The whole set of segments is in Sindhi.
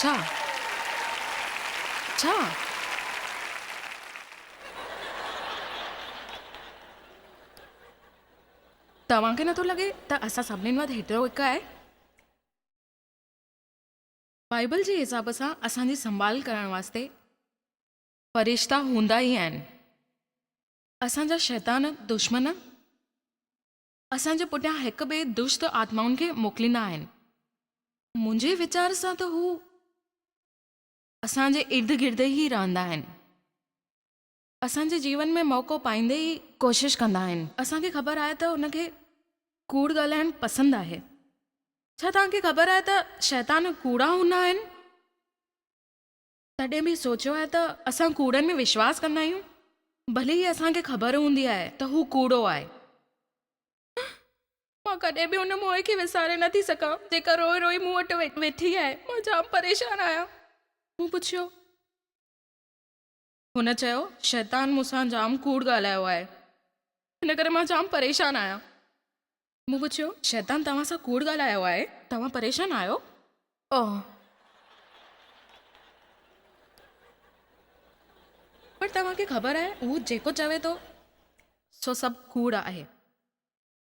ڇا ڇا. توهان کي نٿو لڳي ته اسان سڀني مان هيٽرو هڪ آهي. بائيبل جي حساب سان اسان جي سنڀال ڪرڻ واسطي فرشتا هوندا ئي آهن. اسان جا شيطان، دشمن، اسان جي پٺيان هڪ ٻئي دشت آتمائن کي موڪليندا آهن. منهنجي ويچار سان ته هو اسان جي ارد گرد ئي رهندا آهن. اسان جي جيون ۾ موقعو پائيندي ئي ڪوشش ڪندا آهن. اسان کي خبر آهي ته هن کي ڪوڙ ڳالهائڻ پسند آهي. ڇا توهان کي خبر آهي ته شيطان ڪوڙا هوندا آهن؟ ڪڏهن به سوچيو آهي ته اسان ڪوڙن ۾ وشواس ڪندا آهيون، ڀلي ئي اسان کي خبر هوندي آهي ته هو ڪوڙو آهي؟ مان ڪڏهن به ان موئي کي وساري نه ٿي سگهان، جيڪا روئي روئي مون وٽ ويٺي آهي. مان جام پريشان آهيان. مون پڇيو. هن چيو، شيطان مون سان جام ڪوڙ ڳالهايو آهي، ان ڪري مان جام پريشان آهيان. مون پڇيو، شيطان توهان سان ڪوڙ ڳالهايو آهي؟ توهان پريشان آهيو؟ آهه. پر توهان کي خبر آهي، هو جيڪو چوي ٿو، سو سڀ ڪوڙ آهي.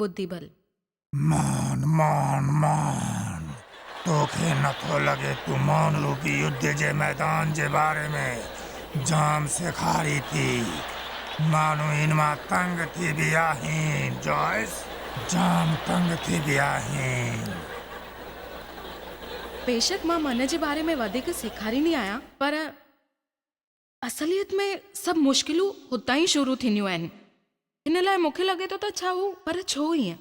ٻڌي ڀل. مان، مان، مان، توکي نٿو لڳي تون مانروپي يڌ جي ميدان جي باري ۾ جام سيکاري ٿي. ماڻهو ان مان تنگ ٿي به آهين جوائس، جام تنگ ٿي به آهين. بيشڪ مان من جي باري ۾ وڌيڪ سيکاريندي آهيان پر. اصليت ۾ سڀ مشڪلون هتان ئي شروع ٿينديون آهن. هن لاء مون کي لڳي ٿو ته ڇا هو پر ڇو ائين؟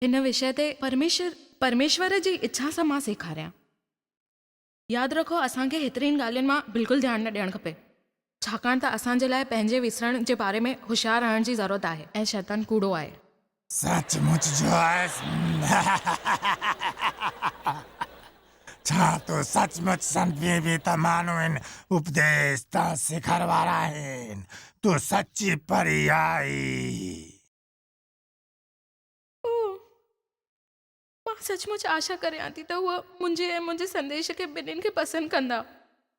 هن وشيه تي پرميشور پرميشور جي اڇا سان مان سيکاريان. ياد رکو اسان کي هيترين ڳالهين مان بلڪل ڌيان نه ڏيڻ کپي ڇاڪاڻ ته اسان جي لاء پنهنجي وسرڻ جي باري ۾ هوشيار رهڻ جي ضرورت آهي ۽ شيطان ڪوڙو آهي. سچ مچ جو آهيس؟ ڇا تو سچ مچ سمجهي به ته ماڻهو ان اپديش تان سکر وارا آهن؟ تون سچي پري آهين. مان سچ مچ آشا ڪريان ٿي ته هو منهنجي ۽ منهنجي سنديش کي ٻنهين کي پسند ڪندا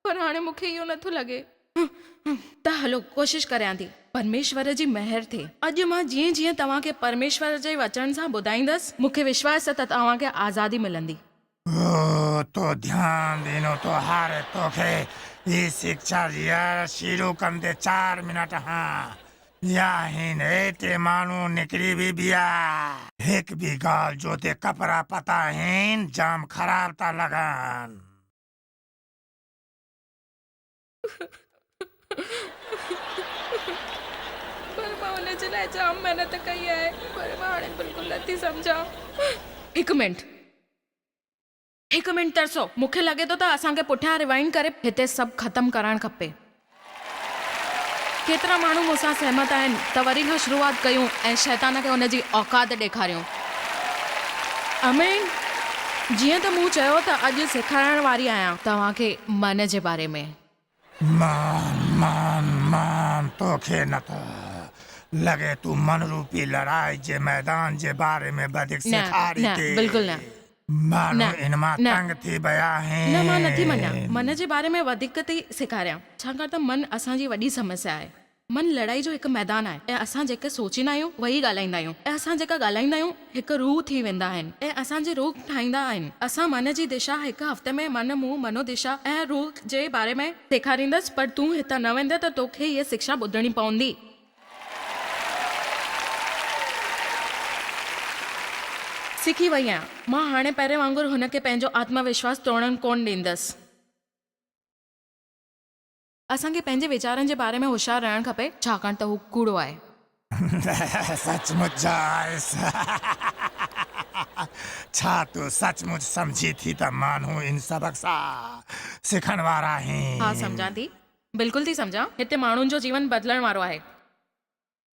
پر هاڻي مون کي اهو نٿو لڳي. هه هه ته هلو ڪوشش ڪريان ٿي پرميشور جي مهر ٿئي. اڄ مان جيئن جيئن توهان کي پرميشور جي وچن سان ٻڌائيندس مون کي وشواس ته توهان کي آزادي ملندي. هو تو ڌيان ڏنو ٿو هاري توکي هي سکيا ڏيارڻ شروع ڪندي چار منٽ هان يا هين هي تي ماڻهو نڪري وي بيا. هڪ بي گال جو تي ڪپرا پتا هين جام خراب تا لگان. پر مان ان جي لاء جام محنت ڪئي آهي پر مان هاڻي بلڪل نٿي سمجهان. هڪ منٽ. هڪ منٽ ترسو، مون کي لڳي ٿو ته اسان کي پٺيان Rewind ڪري هتي سڀ ختم ڪرائڻ کپي. ڪيترا ماڻهو مون سان سهمت آهن ته وري کان شروعات ڪيون ۽ شيطان کي ان جي اوقات ڏيکاريون. آمين. جيئن ته مون چيو ته اڄ سيکارائڻ واري آهيان توهان کي من جي باري ۾. مان، مان، مان توکي نٿو لڳي تون من روپي لڙائي جي ميدان جي باري ۾ وڌيڪ نه، سيکاري نه، ٿي. بلڪل نه. ماڻهو نه، ان مان نه. تنگ ٿي ويا نه، مان نٿي مڃان آهن. من جي باري ۾ وڌيڪ ٿي سيکاريان، ڇاڪاڻ ته من اسان جي وڏي سمسيا آهي. من لڙائي جو هڪ ميدان آهي ۽ اسان جيڪي سوچيندا آهيون اهو ئي ڳالهائيندا آهيون ۽ اسان جيڪا ڳالهائيندا آهيون هڪ روح ٿي ويندا آهن ۽ اسان جي روح ٺاهيندا آهن اسان من جي دشا هڪ هفتي ۾ من منهن منودشا ۽ روح جي باري ۾ سيکاريندس پر تون هتان نه ويندين ته تو کي هيء سکشا ٻڌڻي پوندي. سکي وئي آهيان مان هاڻي پهرين وانگر هن کي پنهنجو آتم وشواس ٽوڙڻ ڪونه ڏيندس. اسان کي پنهنجي ويچارن جي باري ۾ هوشيار رهڻ کپي ڇاڪاڻ ته هو ڪوڙو آهي. سچ مچ جا آهيس. ڇا تون سچ مچ سمجهين ٿي ته مانهون ان سبق سان سکڻ وارا آهين؟ ها سمجهان ٿي. بلڪل ٿي سمجهان. هتي ماڻهن جو جيون بدلڻ وارو آهي.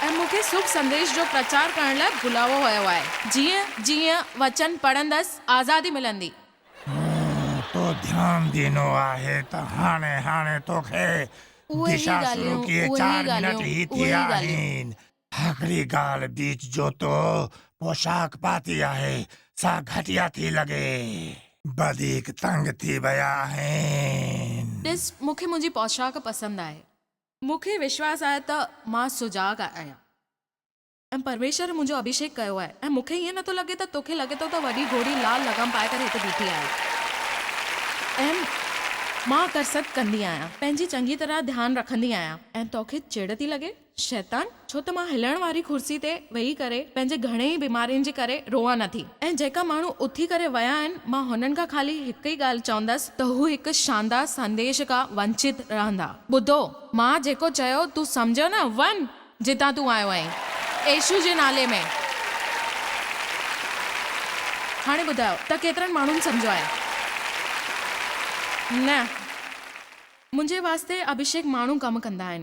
۽ مون کي سڀ سنديش جو پرچار ڪرڻ لاء بلايو ويو آهي. جيئن جيئن وچن پڙهندس آزادي ملندي. مون تو ڌيان ڏنو آهي ته هاڻي هاڻي توکي دشا شروع ڪيئي چار منٽ هي ٿيا آهن. هڪڙي ڳالهه بيچ جو تو پوشاڪ پاتي آهي سا گهٽيا ٿي لڳي. وڌيڪ تنگ ٿي ويا آهين. ڏس مون کي منهنجي پوشاڪ پسند آهي. مون کي وشواس آهي ته مان سجاڳ آهيان ۽ پرميشور منهنجو اڀيشيڪ ڪيو آهي ۽ مون کي ائين نٿو لڳي ته توکي لڳي ٿو ته وڏي گهوڙي لال لغام پائي ڪري هتي بيٺي آهي ۽ مان ڪرست ڪندي آهيان پنهنجي چڱي طرح ڌيان رکندي آهيان ۽ توکي چڙ ٿي لڳي شيطان! ڇو ته مان هلڻ واري ڪرسي تي ويهي ڪري پنهنجي گهڻين ئي بيمارين جي ڪري روئان نه ٿي ۽ جيڪا ماڻهو اٿي ڪري ويا آهن مان هنن کان خالي هڪ ئي ڳالهه چوندس ته هو هڪ شاندار سنديش کا ونچت رهندا ٻڌو مان جيڪو چيو تون سمجهيو نه وڃ جتان تون آيو آهين ايشو جي نالي ۾ هاڻي ٻڌايو ته ڪيترن ماڻهن سمجهيو آهي نه منهنجي واسطي ابهيشيڪ ماڻهو ڪم ڪندا آهن.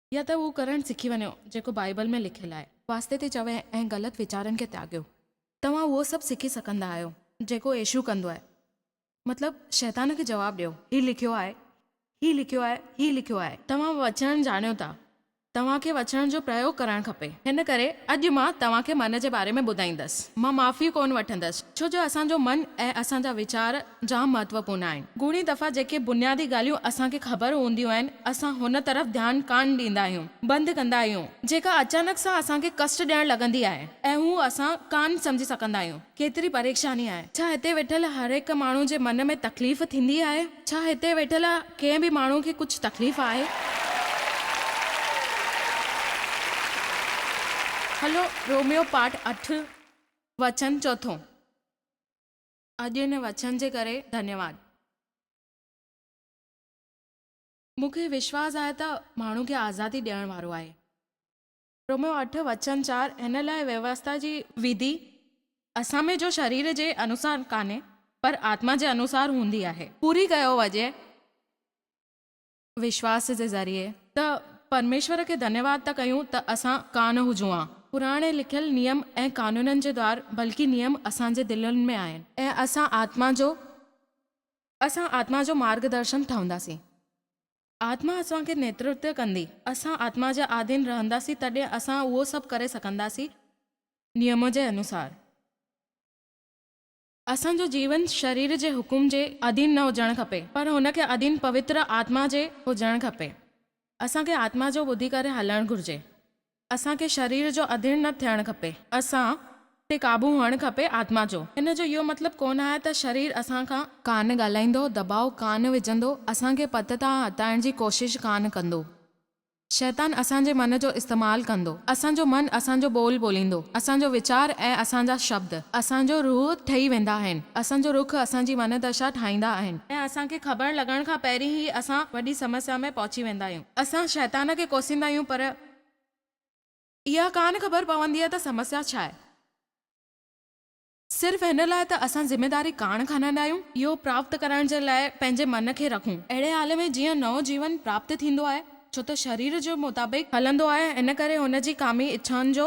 يا ته اهو ڪرڻ سکي وڃو جيڪو بائيبل ۾ لکيل آهي. واسطي تي چوي ۽ غلط ويچارن کي تياڳيو. توهان اهو سڀ سکي سگهندا آهيو جيڪو يسوع ڪندو آهي. مطلب شيطان کي جواب ڏيو. هي لکيو آهي، هي لکيو آهي، هي لکيو آهي. توهان وچن ڄاڻيو ٿا. توهان کي وچن جو پريوگ ڪرڻ کپي. هن ڪري اڄ مان توهان کي من جي باري ۾ ٻڌائيندس. مان معافي ڪونه وٺندس ڇو جو اسان جو من ۽ اسان جا ويچار جام مهتوپورن آهن. گهڻي دفعا جيڪي بنيادي ڳالهيون اسان کي خبر هونديون آهن، اسان هن طرف ڌيان ڪانه ڏيندا آهيون، بند ڪندا آهيون، جيڪا اچانڪ سان اسان کي ڪشٽ ڏيڻ لڳندي آهي ۽ هو اسان ڪانه سمجهي سگهندا آهيون. ڪيتري پريشاني آهي. ڇا هتي ويٺل هر هڪ ماڻهو جي من ۾ تڪليف ٿيندي آهي؟ ڇا هتي ويٺل ڪنهن به ماڻهو کي ڪجهه تڪليف آهي؟ هلو روميو پارٽ اٺ وچن چوٿون. اڄ هن وچن جي ڪري ڌنيواد. مون کي وشواس آهي ته ماڻهو کي آزادي ڏيڻ وارو آهي. روميو اٺ وچن چار هن لاء ويوستا جي وڌي اسان ۾ جو شرير جي انوسار ڪانهي پر آتما جي انوسار هوندي آهي. پوري ڪيو وڃي وشواس جي ذريعي ته پرميشور کي ڌنيواد ٿا ڪيون ته اسان ڪانه هجون ها. پراڻي لکيل نيم ۽ قانونن جي دوار بلڪه نيم اسان جي دلين ۾ آهن. ۽ اسان آتما جو اسان آتما جو مارگ درشن ٺهنداسين. آتما اسان کي نيترتو ڪندي. اسان آتما جي آڌين رهنداسين تڏهن اسان اهو سڀ ڪري سگهنداسين نيم جي انوسار. اسان جو جيون شرير جي حڪم جي اڌين نه هجڻ کپي پر هن کي اڌين پوتر آتما جي هجڻ کپي. اسان کي آتما جو ٻڌي ڪري هلڻ گهرجي. اسان کي شرير جو اڌين نه ٿيڻ کپي. اسان تي قابو هئڻ کپي آتما جو. هن جو اهو مطلب ڪونه آهي ته شرير اسان کان. ڪانه ڳالهائيندو، دٻاء ڪانه وجهندو، اسان کي پت تان هٽائڻ جي ڪوشش ڪانه ڪندو. شيطان اسان جي من جو استعمال ڪندو. اسان جو من اسان جو ٻول ٻوليندو. اسان جو ويچار ۽ اسان جا شبد اسان جو روح ٺهي ويندا آهن. اسان جو رخ اسان جي من دشا ٺاهيندا آهن. ۽ اسان کي خبر لڳڻ کان پهرين ئي اسان وڏي سمسيا ۾ پهچي ويندا آهيون. اسان شيطان کي ڪوسيندا آهيون پر اها ڪانه خبر پوندي آهي ته سمسيا ڇا آهي. صرف هن لاء ته اسان ذميداري ڪاڻ کڻندا آهيون. اهو پراپت ڪرڻ جي لاء پنهنجي من کي رکون. اهڙي حال ۾ جيئن نئون جيون پراپت ٿيندو آهي، ڇو ته شرير جي مطابق هلندو آهي، ان ڪري هن جي ڪامي اڇائن جو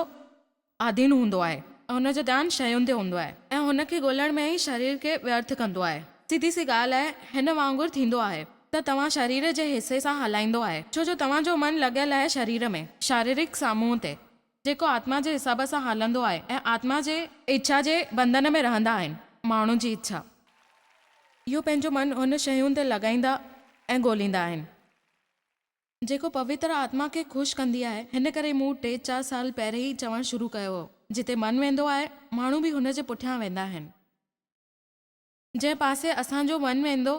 آڌين هوندو آهي ۽ هن جو ڌيان شين تي هوندو آهي ۽ هن کي ڳولڻ ۾ ئي شرير کي ويرٿ ڪندو آهي. سڌي سي ڳالهه آهي، هن وانگر ٿيندو آهي ته توهان شرير جي حصي سان هلائيندو آهي، ڇو جو توهان جو من لڳل آهي شرير ۾، شاريرڪ سامونء تي. جيڪو آتما جي حساب سان هلندو آهي ۽ آتما جي. اڇا جي بندن ۾ رهندا آهن. ماڻهو جي اڇا. اهو پنهنجو من هن شين تي لڳائيندا ۽ ڳوليندا آهن. جيڪو پوتر آتما کي خوش ڪندي آهي. هن ڪري مون ٽي چار سال پهرين ئي چوڻ شروع ڪيو هو. جتي من ويندو آهي، ماڻهو به هن جي پٺيان ويندا آهن. جنهن پاسي اسان جو من ويندو.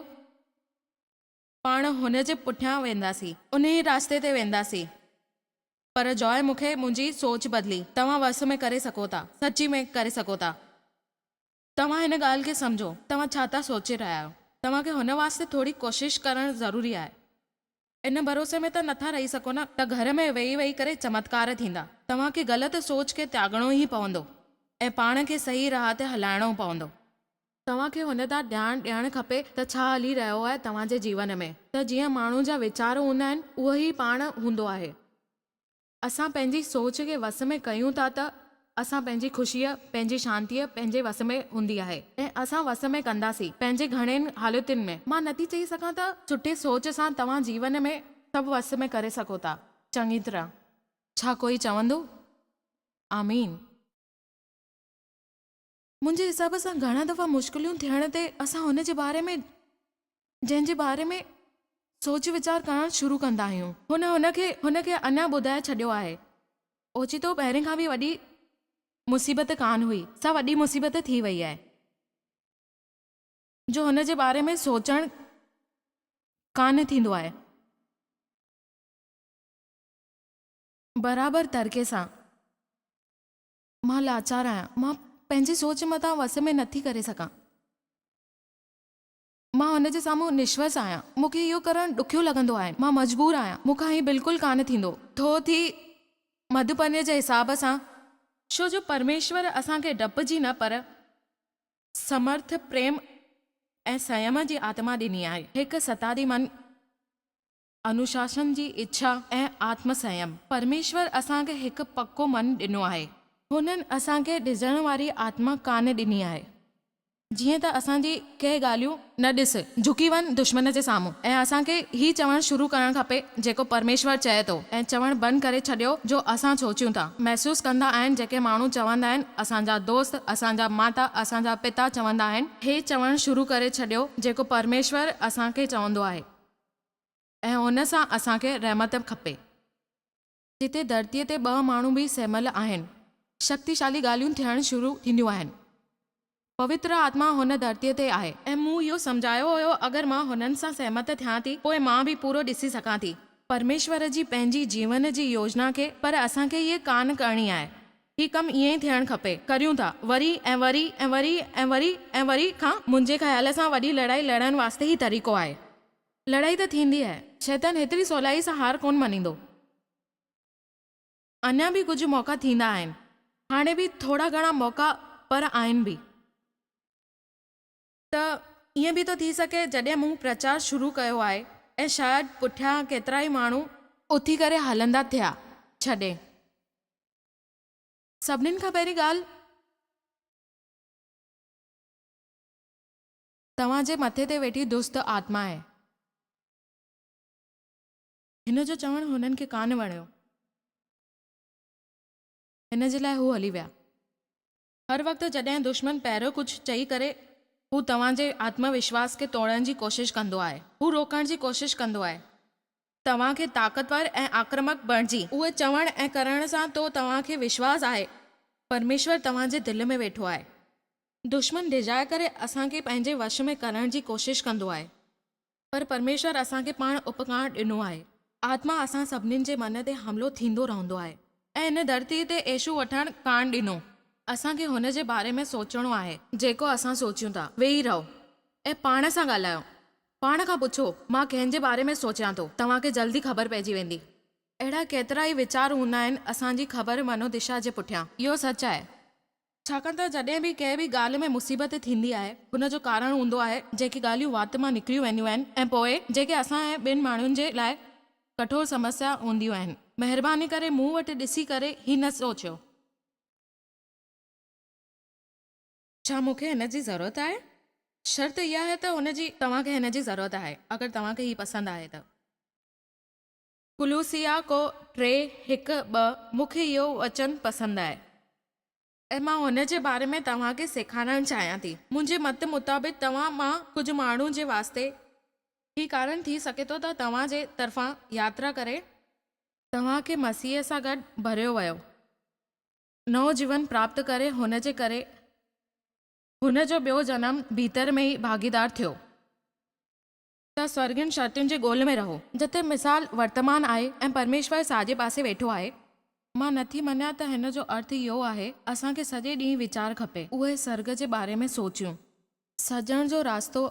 پاڻ هن جي پٺيان وينداسين. انهيء رستي تي وينداسين. پر جاء مون کي منهنجي سوچ بدلي. توهان وس ۾ ڪري سگهو ٿا. سچي ۾ ڪري سگهو ٿا. توهان هن ڳالهه کي سمجهو. توهان ڇا ٿا سوچي رهيا آهيو. توهان کي هن واسطي ٿوري ڪوشش ڪرڻ ضروري آهي. ان ڀروسي ۾ ته نٿا رهي سگهو نه ته گهر ۾ ويهي ويهي ڪري چمتڪار ٿيندا. توهان کي غلط سوچ کي تياڳڻو ئي پوندو ۽ پاڻ کي صحيح راهه تي هلائڻو پوندو. توهان کي هن ڏانهن ڌيان ڏيڻ کپي ته ڇا هلي رهيو آهي توهان جي جيون ۾، ته جيئن ماڻهو جا ويچار هوندا آهن اهو ئي پاڻ هوندو آهي. اسان پنهنجي سوچ کي وس ۾ ڪيون ٿا ته اسان پنهنجي خوشيء، پنهنجي شانتيء پنهنجي وس ۾ هوندي آهي. ۽ اسان وس ۾ ڪنداسين پنهنجي گهڻين حالتن ۾. مان نٿي چئي سگهان ته سٺي سوچ سان توهان جيون ۾ سڀ وس ۾ ڪري سگهو ٿا چڱي طرح. ڇا ڪوئي چوندو آمين؟ منهنجي حساب سان گهڻا دفعا مشڪليون ٿيڻ تي اسان هن جي باري ۾ جنهن جي باري ۾ سوچ ويچار ڪرڻ شروع ڪندا آهيون. هن هن کي هن کي اڃا ٻڌائي ڇڏيو آهي، اوچتو پهرين کان به وڏي مصيبت ڪانه هئي، سا وڏي مصيبت ٿي وئي آهي، جو هن جي باري ۾ سوچڻ ڪانه ٿيندو آهي. برابر طرقي سان مان لاچار آهيان، مان پنهنجي سوچ مٿان وس ۾ نه ٿي ڪري سگهان. مان هن جي سامهون نشوس آهيان. مون کي اهو ڪرڻ ڏکيو لڳندو آهي. مان مجبور آهيان. مون کان هي بلڪل ڪانه ٿيندو. ٿو ٿي مڌپنيء جي حساب سان. ڇو جو پرميشور اسان کي ڊپ جي نه پر سمرٿ، پريم ۽ سنيم جي آتما ڏني آهي. هڪ ستادي من انوشاسن جي اڇا ۽ آتم سنيم، پرميشور اسان کي هڪ پڪو من ڏنو آهي. هنن اسان کي ڊڄڻ واري آتما ڪانه ڏني آهي، جيئن ته اسان جي ڪي ڳالهيون نه ڏس، جهڪي وڃ دشمن جي سامهون ۽ اسان کي هي چوڻ شروع ڪرڻ کپي جيڪو پرميشور چئي ٿو ۽ چوڻ بند ڪري ڇڏيو جو اسان سوچيون ٿا، محسوس ڪندا آهن جيڪي ماڻهو چوندا آهن اسان جا دوست، اسان جا ماتا، اسان جا پتا چوندا آهن، هي چوڻ شروع ڪري ڇڏيو جيڪو پرميشور اسان کي چوندو آهي. ۽ ان سان اسان کي رحمت به کپي. جتي ڌرتيء تي ٻه ماڻهو به سهميل آهن، شڪتيشالي ڳالهيون ٿيڻ شروع ٿينديون آهن. پوتر آتما هن ڌرتيء تي آهي. ۽ مون اهو سمجهايو هيو اگر مان هنن سان سهمت ٿيان ٿي، پوء مان به پورو ڏسي سگهان ٿي. پرميشور جي پنهنجي جيون جي يوجنا کي پر اسان کي اهي ڪانه ڪرڻي آهي. هي ڪم ائين ئي ٿيڻ کپي. ڪريون ٿا. وري ۽ وري ۽ وري ۽ وري ۽ وري کان منهنجي خيال سان وڏي لڙائي لڙڻ واسطي هي طريقو آهي. لڙائي ته ٿيندي آهي. شيطان هيتري سولائي سان هار ڪونه مڃيندو. اڃا به ڪجهه موقعا ٿيندا آهن. هاڻي به ٿورا گهڻا موقعا پر آهن به. ته ائين به ٿو ٿي سگهي جڏهن مون پرچار شروع ڪيو آهي ۽ شايد پٺيان ڪيترائي ماڻهو اٿي ڪري هلندا ٿيا ڇڏي سڀنين کان پهرين ڳالهه توهان جي مٿي تي ويٺي دست آتما آهي. هن جو چوڻ هنن کي ڪانه وڻيو هن جي لاء هو هلي ويا. هر وقت جڏهن دشمن پهريون ڪجهه چئي ڪري، هو توهان جي آتم وشواس کي ٽوڙڻ جي ڪوشش ڪندو آهي. هو روڪڻ جي ڪوشش ڪندو آهي توهان کي طاقتور ۽ آڪرمڪ بڻجي. اهي چوڻ ۽ ڪرڻ سان تو توهان کي وشواس آهي پرميشور توهان جي دل ۾ ويٺو آهي. دشمن ڊيڄائي ڪري اسان کي پنهنجي وش ۾ ڪرڻ جي ڪوشش ڪندو آهي. پر پرميشور اسان کي پاڻ اپڪار ڏنو آهي. آتما اسان سڀني جي من تي حملو ٿيندو رهندو آهي. ۽ هن ڌرتي تي عيشو وٺڻ ڪانه ڏنو. اسان کي هن جي باري ۾ سوچڻو آهي. جيڪو اسان سوچيون ٿا. ويهي رهو ۽ پاڻ سان ڳالهايو. پاڻ کان پڇو، مان ڪنهن جي باري ۾ سوچيان ٿو؟ توهان کي جلد ئي خبر پئجي ويندي. اهڙا ڪيترائي ويچار هوندا آهن اسان جي خبر منو دشا جي پٺيان. اهو سچ آهي. ڇاڪاڻ ته جڏهن به ڪنهن به ڳالهه ۾ مصيبت ٿيندي آهي، ان جو ڪارڻ هوندو آهي، جيڪي ڳالهيون وات مان نڪريون وينديون آهن ۽ پوء جيڪي اسان ۽ ٻين ماڻهن جي لاء ڪٺور سمسيا هونديون آهن. مهرباني ڪري مون وٽ ڏسي ڪري هي نه سوچيو. ڇا مون کي هن جي ضرورت آهي؟ شرط اها آهي ته هن جي توهان کي هن جي ضرورت آهي، اگر توهان کي هي پسند آهي ته. ڪلوسيٰ ڪو ٽي هڪ ٻه مون کي اهو وچن پسند آهي ۽ مان هن جي باري ۾ توهان کي سيکارڻ چاهيان ٿي. منهنجي مت مطابق توهان مان ڪجهه ماڻهن جي واسطي هي ڪارڻ ٿي سگهي ٿو ته توهان جي طرفان ياترا ڪري، توهان کي مسيح سان گڏ ڀريو ويو نئون جيون پراپت ڪري هن جي ڪري هن جو ٻيو جنم ڀيتر ۾ ئي ڀاڳيدار ٿيو. ته سرگهڻ شرطن جي ڳول ۾ رهو. جتي مثال ورتمان آهي ۽ پرميشور ساڄي پاسي ويٺو آهي. مان نٿي مڃان ته هن جو ارٿ اهو آهي، اسان کي سڄي ڏينهن ويچار کپي، اهي سرگ جي باري ۾ سوچيون. سجڻ جو راستو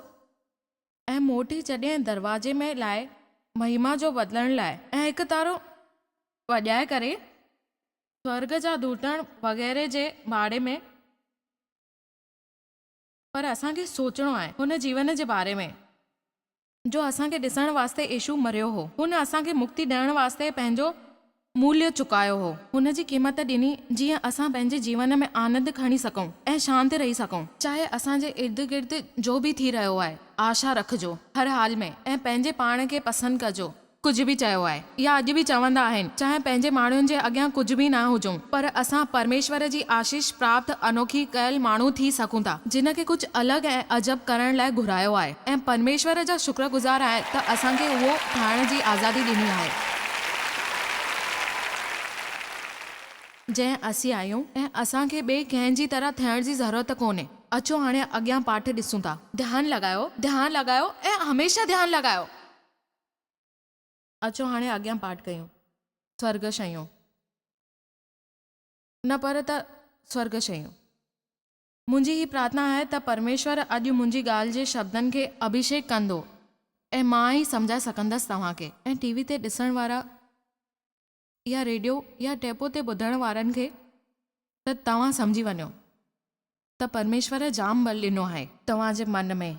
۽ موٽي جڏهن دروازي ۾ لاء مهما جو بدلڻ لاء ۽ هڪ تارو وڄائي ڪري سرگ جا ڌوٽڻ وغيره جي ڀاڙي ۾. پر اسان کي سوچڻو آهي هن جيون جي باري ۾، جو اسان کي ڏسڻ واسطي يسوع مريو هو. هن اسان کي مڪتي ڏيڻ واسطي پنهنجو موليو چڪايو هو. هن جي قيمت ڏني جيئن اسان پنهنجي جيون ۾ آنند کڻي سگهون ۽ شانت رهي سگهون. چاهي اسان جي ارد گرد جو به ٿي رهيو آهي، آشا رکجو هر حال ۾ ۽ پنهنجي پاڻ کي پسند ڪجو. ڪجهه به چيو آهي يا اڄ به چوندا آهن چاهي پنهنجي ماڻهن جي اڳيان ڪجهه به نه هجون پر اسان پرميشور جي آشيش پراپت انوکي ڪيل ماڻهو ٿي سگهون ٿا جنهن کي ڪجهه الڳ ۽ عجب ڪرڻ لاء گهرايو آهي ۽ پرميشور جا شڪرگذار آهن ته اسان کي اهو ٺاهڻ جي آزادي ڏني آهي جنهن اسين آهيون ۽ اسان کي ٻئي ڪنهن جي طرح ٿيڻ جي ضرورت ڪونهي اچو هاڻي اڳيان پاٺ ڏسون ٿا. ڌيان لڳايو، ڌيان لڳايو ۽ هميشه ڌيان لڳايو. اچو هاڻي اڳيان پاٺ ڪيون. سرڳ شيون نه پر ته سرڳ شيون. منهنجي هي پرارٿنا آهي ته پرميشور اڄ منهنجي ڳالهه جي شبدن کي اڀيشيڪ ڪندو ۽ مان ئي سمجهائي سگهندس توهان کي. ۽ ٽي وي تي ڏسڻ وارا يا ريڊيو يا ٽيپ تي ٻڌڻ وارن کي ته توهان سمجهي وڃو ته پرميشور جام ٻل ڏنو آهي. توهان جي من ۾.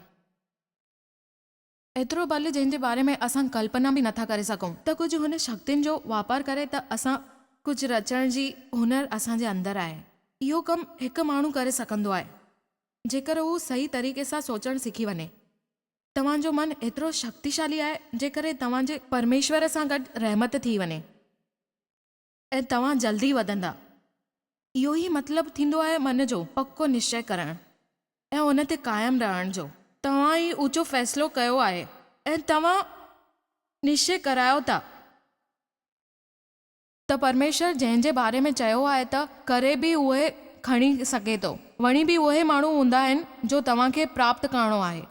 ايترو بل جنهن جي باري ۾ اسان ڪلپنا به نٿا ڪري سگهون ته ڪجهه هن شڪتين جو واپار ڪري ته اسان ڪجهه رچڻ جي هنر اسان جي اندر آهي. اهو ڪم هڪ ماڻهو ڪري سگهندو آهي جيڪر هو صحيح طريقي سان سوچڻ سکي وڃي. توهان جو من ايترو شڪتيشالي آهي جيڪر هي توهان جي پرميشور سان گڏ رحمت ٿي وڃي. ۽ توهان جلدي وڌندا. اهو ئي مطلب ٿيندو آهي من جو پڪو نشچي ڪرڻ ۽ ان تي قائم رهڻ جو. توهان هي اوچو فيصلو ڪيو آهي ۽ توهان نشچي ڪرايو ٿا ته پرميشور جنهن جي باري ۾ چيو آهي ته ڪري به اهوئي کڻي سگهي ٿو. وڻي به اهي ماڻهو هوندا آهن جو توهان کي پراپت ڪرڻو آهي.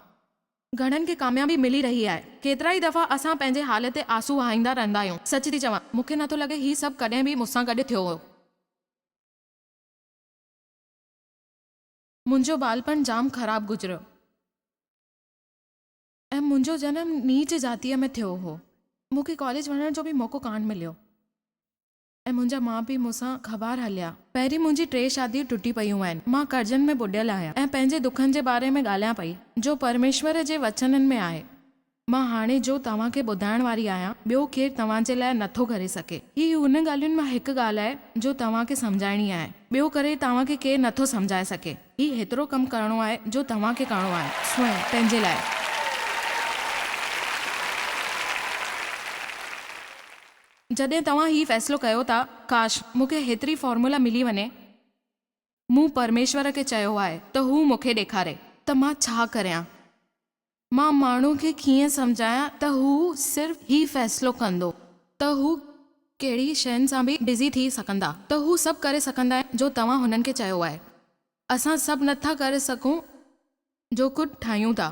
گهڻن کي ڪاميابي ملي رهي آهي. ڪيترائي دفعا اسان پنهنجي حال تي آنسو وهائيندا رهندا آهيون. سچ ٿي چوان، مون کي نه ٿو لڳي هي سڀ ڪڏهن به مون سان گڏ ٿيو هو. منهنجو ٻالپڻ جام خراب گذريو ۽ منهنجو جنم نيچ ذاتيء ۾ ٿيو هو. مون کي ڪاليج وڃڻ جو به موقعو ڪانه مليو. ۽ منهنجا ماء پيء مون سان خبار هليا. پهرين منهنجي ٽي شاديون ٽٽي پيون آهن. مان قرضن ۾ ٻڏيل آهيان ۽ پنهنجي دکن جي باري ۾ ڳالهيان پئي، جو پرميشور جي وچنن ۾ آهي. مان هاڻي جو توهان کي ٻڌائڻ واري آهيان، ٻيو ڪير توهان جي لاء نٿو ڪري سگهي. هي هن ڳالهين مان هڪ ڳالهه آهي، جو توهان کي سمجهائڻي آهي، ٻيو ڪري توهان کي ڪير نٿو سمجهائي سگهي. هي هيترو ڪم ڪرڻو آهي، جو توهان کي ڪرڻو آهي، سوين، پنهنجي لاء. جڏهن توهان هي فيصلو ڪيو ته ڪاش مون کي هيتري فارمولا ملي وڃي مون پرميشور کي چيو آهي ته هو مون کي ڏيکاري ته مان ڇا ڪريان مان ماڻهو کي ڪيئن سمجهايان ته هو صرف هي فيصلو ڪندو ته هو ڪهڙي شين سان به بزي ٿي سگهندا ته هو سڀ ڪري سگهندا آهن جو توهان هنن کي چيو آهي اسان سڀ نه ٿا ڪري سگهون جو ڪجهه ٺاهيون ٿا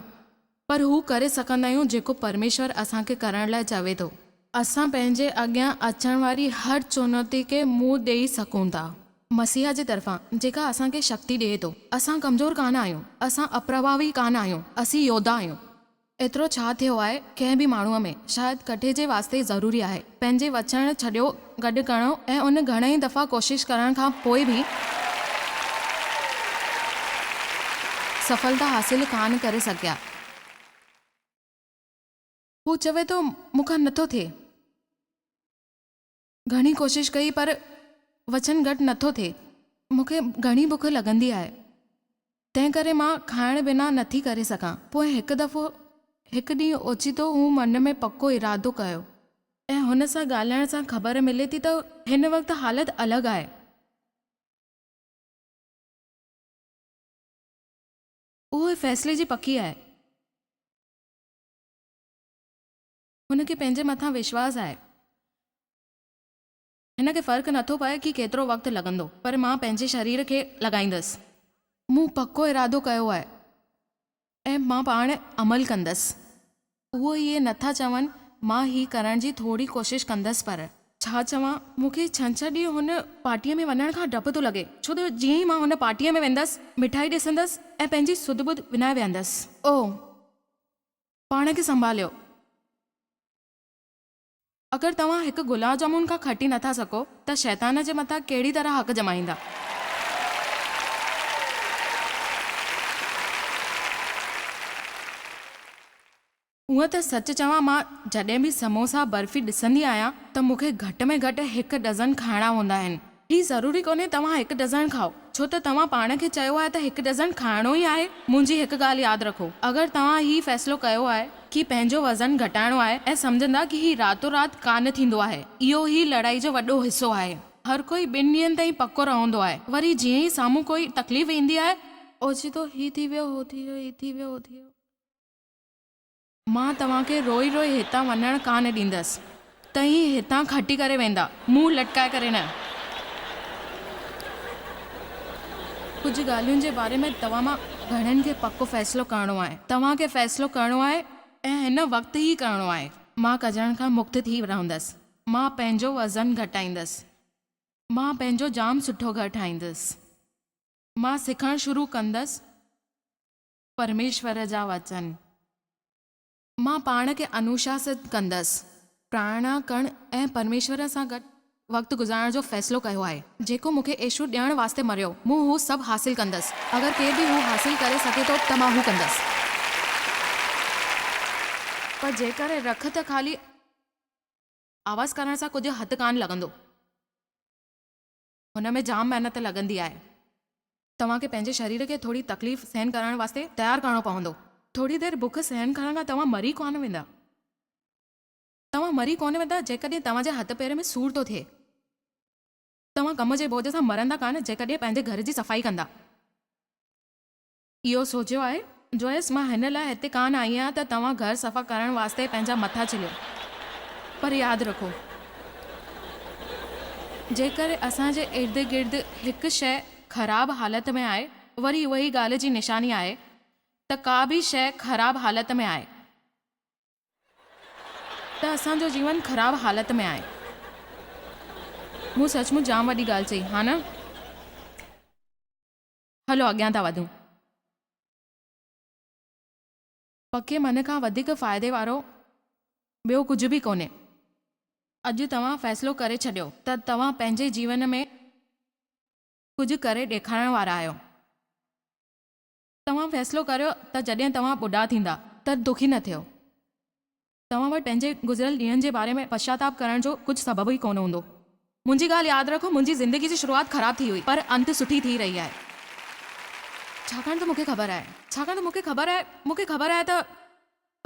پر هو ڪري سگهندا آهيون جيڪو پرميشور اسان کي ڪرڻ لاء چوي ٿو. اسان پنهنجي اڳيان اچڻ واري هر چونوتي کي منهن ڏيئي سگهون ٿا. مسيح جي طرفان جيڪا اسان کي شڪتي ڏئي ٿو. اسان ڪمزور ڪانه آهيون. اسان اپرڀاوي ڪانه آهيون. اسين يوڌا آهيون. ايترو ڇا ٿيو آهي ڪنهن به ماڻهوء ۾؟ شايد ڪڍي جي واسطي ضروري آهي پنهنجي وچڻ ڇڏيو گڏ ڪرڻو ۽ ان گهڻي ئي دفعا ڪوشش ڪرڻ کان پوء به سڦلتا حاصل ڪانه ڪري سگهيا. هو چوي ٿو مون کان نٿو ٿئي. گهڻي ڪوشش ڪئي پر وچن گهٽ نه ٿو ٿئي. مون کي گهڻي بک لڳندي آهي، تنهن ڪري مان کائڻ بنا نه ٿي ڪري سگهان. پوء هڪ دفعو هڪ ڏينهن اوچتو هو من ۾ پڪو ارادو ڪيو. ۽ هن سان ڳالهائڻ سان خبر ملي ٿي ته هن وقت حالت الڳ آهي. هو فيصلي جي پڪي آهي. هن کي پنهنجي مٿان وشواس آهي. هن کي فرق نه ٿو پئي ڪي ڪيترو وقت لڳندو پر مان پنهنجي شرير کي لڳائيندس. مون پڪو ارادو ڪيو آهي ۽ مان پاڻ عمل ڪندس. اهو اهي نه ٿا چون مان هي ڪرڻ جي ٿوري ڪوشش ڪندس پر. ڇا چوان مون کي ڇنڇر ڏينهن هن پارٽيء ۾ وڃڻ کان ڊپ ٿو لڳي ڇو ته جيئن ئي مان هن پارٽيء ۾ ويندس مٺائي ڏسندس ۽ پنهنجي سڌ ٻڌ وڃائي ويهندس. اوه پاڻ کي سنڀاليو. اگر توهان هڪ گلاب جامون کان کٽي نٿا سگهو ته شيطان جي مٿان ڪهڙي طرح حق ڄمائيندا. هونء ته سچ چوان مان جڏهن به سموسا برفي ڏسندي آهيان ته مون کي گهٽ ۾ گهٽ هڪ ڊزن کائڻا هوندا آهن. هي ضروري ڪونهي توهان هڪ ڊزڻ کائو، ڇو ته توهان پاڻ کي چيو آهي ته هڪ ڊزڻ کائڻو ئي آهي. منهنجي هڪ ڳالهه ياد رکو، اگر توهان هي فيصلو ڪيو آهي ڪي پنهنجو وزن گهٽائڻو آهي ۽ سمجهندا ڪي هي راتو رات ڪانه ٿيندو آهي، اهو ئي لڙائي جو وڏو حصو آهي. هر ڪوئي ٻن ڏينهن تائين پڪو رهندو آهي، وري جيئن ئي سامهون ڪوئي تڪليف ايندي آهي. اوچتو هي ٿي ويو، هو ٿي ويو، هي ٿي ويو، هو ٿي ويو. مان توهان کي روئي روئي هتان وڃڻ ڪانه ڏيندس. توهين هتان کٽي ڪري ويندا، منهن لٽڪائي ڪري نه. ڪجهه ڳالهين جي باري ۾ توهان مان گهڻن کي پڪو فيصلو ڪرڻو آهي. توهان کي فيصلو ڪرڻو آهي ۽ هن وقت ئي ڪرڻو آهي. مان ڪجڻ کان مڪت ٿي رهندس. مان پنهنجو وزن گهٽائيندس. مان پنهنجو جام سٺو گهر ٺاهيندس. مان سکڻ شروع ڪندس. پرميشور جا وچن، مان پاڻ کي انوشاست ڪندس. پرائڻ ڪرڻ ۽ پرميشور سان گڏ وقت گذارڻ جو فيصلو ڪيو آهي. جيڪو مون کي ايشور ڏيڻ واسطي مريو، مون هو سڀ حاصل ڪندس. اگر ڪير به هو حاصل ڪري سگهي ٿو ته مان هو ڪندس. پر جيڪڏهن رک ته خالي آواز ڪرڻ سان ڪجهه هٿ ڪانه لڳندو. هن ۾ جام محنت لڳندي آهي. توهان کي پنهنجي شرير کي ٿوري تڪليف سهن ڪرڻ واسطي تيار ڪرڻو پوندو. ٿوري دير بک سهن ڪرڻ کان توهان مري ڪونه ويندا. توهان مري ڪونه ويندا جيڪڏهن توهان جي هٿ پير ۾ سور ٿو ٿئي. توهان ڪم جي بوجهه سان مرندا ڪانه جيڪڏهن پنهنجي گهر جي صفائي ڪندا. اهو سوچيو آهي. جويس، مان هن لاء هتي ڪانه آئي آهيان ته توهان گهر صفا ڪرڻ واسطي پنهنجا مٿا ڇليو. پر ياد رکو، جيڪر اسان جي اردگرد هڪ شيء خراب حالت ۾ آهي، وري اهي ئي ڳالهه جي نشاني آهي ته ڪا به شيء خراب حالت ۾ آهي، ته اسان جو جيون خراب حالت ۾ آهي. مون سچ مچ جام وڏي ڳالهه چئي، ها نه؟ هلو اڳيان ٿا وڌون. پکي من کان وڌيڪ فائدي وارو ٻيو ڪجهه به ڪونهي. اڄ توهان فيصلو ڪري ڇڏيو ته توهان پنهنجي جيون ۾ ڪجهه ڪري ڏيکارڻ وارا آهيو. توهان فيصلو ڪريو ته جڏهن توهان ٻڍا ٿيندا ته دکي نه ٿيو. توهان وٽ پنهنجي گذريل ڏينهن جي باري ۾ پشچاتاپ ڪرڻ جو ڪجهه سبب ئي ڪونه هوندو. منهنجي ڳالهه ياد رکو، منهنجي زندگي جي شروعات خراب ٿي هئي، پر انت سٺي ٿي رهي آهي. ڇاڪاڻ ته مون کي خبر آهي. ڇاڪاڻ ته مون کي خبر آهي. مون کي خبر آهي ته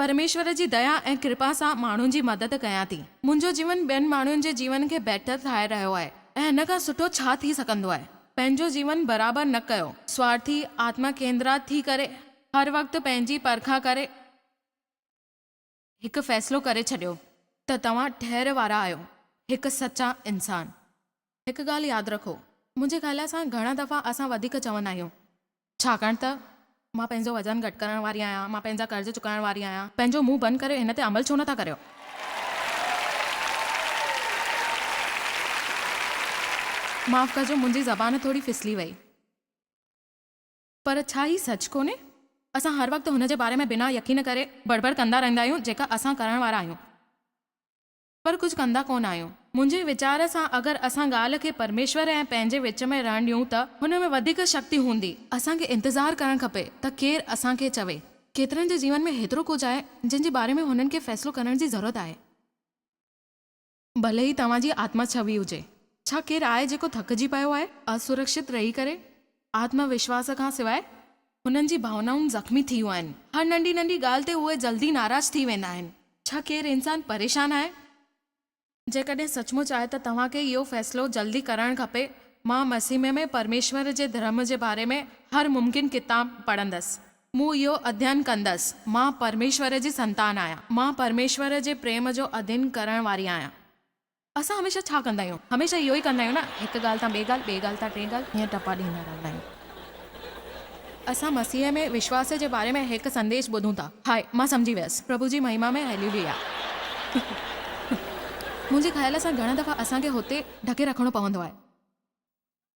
پرميشور جي ديا ۽ ڪرپا سان ماڻهن جي مدد ڪيان ٿي. منهنجو جيون ٻين ماڻهن جي جيون کي بهتر ٺاهي رهيو آهي ۽ هن کان سٺو ڇا ٿي سگهندو آهي. پنهنجو جيون برابر نه ڪيو. سوارٿي، آتما ڪيندرات ٿي ڪري، هر وقت پنهنجي پرکان ڪري. هڪ فيصلو ڪري ڇڏيو ته توهان ٺهر وارا آهيو، هڪ سچا انسان. هڪ ڳالهه ياد رکو، منهنجي خيال سان گهڻا دفعا اسان وڌيڪ چوندا آهيون، ڇاڪاڻ ته مان پنهنجو وزن گهٽ ڪرڻ واري آهيان، مان پنهنجا قرض چڪائڻ واري آهيان، پنهنجو منهن بند ڪري هن تي عمل ڇو نٿا ڪريو؟ معاف ڪجو، منهنجي زبان ٿوري ڦسلي وئي. پر ڇا هي سچ ڪونهي؟ اسان هر وقت هن جي باري ۾ بنا يقين ڪري بڙ بڙ ڪندا رهندا آهيون جيڪا اسان ڪرڻ وارا آهيون پر ڪجهه ڪندا ڪونه آهيون. منهنجي ويچار سان اگر اسان ڳالهه کي پرميشور ۽ پنهنجي وچ ۾ رهڻ ڏيون ته هن ۾ وڌيڪ شڪتي هوندي. اسان کي انتظار ڪرڻ کپي ته ڪير اسان کي چوي. ڪيترن جي جيون ۾ هيترو ڪجهه آهي جنهن جي باري ۾ هنن کي فيصلو ڪرڻ جي ضرورت آهي. ڀلي هي توهان جي آتما ڇوي هجي. ڇا ڪير آهي جيڪو ٿڪجي پيو آهي؟ اسرڪشت رهي ڪري، آتم وشواس کان سواء، هنن جي ڀاونائون زخمي ٿيون آهن. هر ننڍي ننڍي ڳالهه تي اهي جلدي ناراض ٿي ويندا آهن. ڇا ڪير انسان پريشان آهي؟ جيڪڏهن سچ مچ آهي ته توهان کي اهو فيصلو جلدي ڪرڻ کپي، مان مسيح ۾ ۾ پرميشور جي ڌرم جي باري ۾ هر ممڪن ڪتاب پڙهندس. مون اهو اڌين ڪندس. مان پرميشور جي سنتان آهيان. مان پرميشور جي پريم جو اڌين ڪرڻ واري آهيان. اسان هميشه ڇا ڪندا آهيون؟ هميشه اهو ئي ڪندا آهيون نه. هڪ ڳالهه تان ٻي ڳالهه، ٻي ڳالهه تان ٽين ڳالهه ائين ٽپا ڏيندا رهندا آهيون. اسان مسيح ۾ وشواس جي باري ۾ هڪ سنديش ٻڌون ٿا. هاء، مان سمجهي ويس. پرڀو جي مهما ۾ هيليوليا. منهنجي خيال سان گهڻا دفعا اسان کي هتي ڍڪي رکڻو پوندو آهي.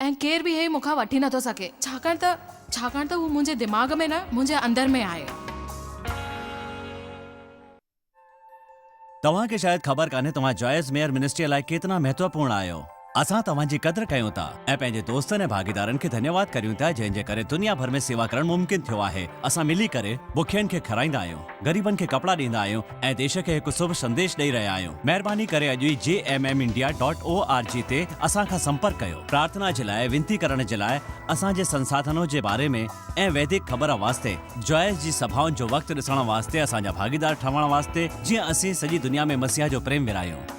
۽ ڪير به هي مون کان وٺي نٿو سگهي، ڇاڪاڻ ته، ڇاڪاڻ ته هو منهنجي دماغ ۾ نه، منهنجي اندر ۾ آهي. توهان کي شايد خبر ڪانهي توهان جوائس ميئر منسٽريء لاء ڪيترا مهتوپورڻ آهيو. اسان توهان جي قدر ڪيون ٿا ۽ پنهنجي دوستن ۽ ڀاڳيدارن کي ڌنيواد ڪريون ٿا جنهن جي ڪري دنيا ڀر ۾ سيوا ڪرڻ ممڪن ٿيو آهي. اسان ملي ڪري بکين کي کارائيندا آهيون، غريبن کي ڪپڙا ڏيندا آهيون، ۽ ديش کي هڪ سڀ سنديش ڏئي رهيا آهيون. مهرباني ڪري اڄ ئي G M M India dot O R G تي اسان کان سمپرڪ ڪيو. پرارٿنا جي لاء وينتي ڪرڻ جي لاء اسان جي سنساڌنو جي باري ۾ ۽ ويدڪ خبر واسطي جوائس جي سڀائن جو وقت ڏسڻ واسطي اسان جا ڀاڳيدار ٺهڻ واسطي جيئن اسين سڄي دنيا ۾ مسيح جو پريم ورهايون.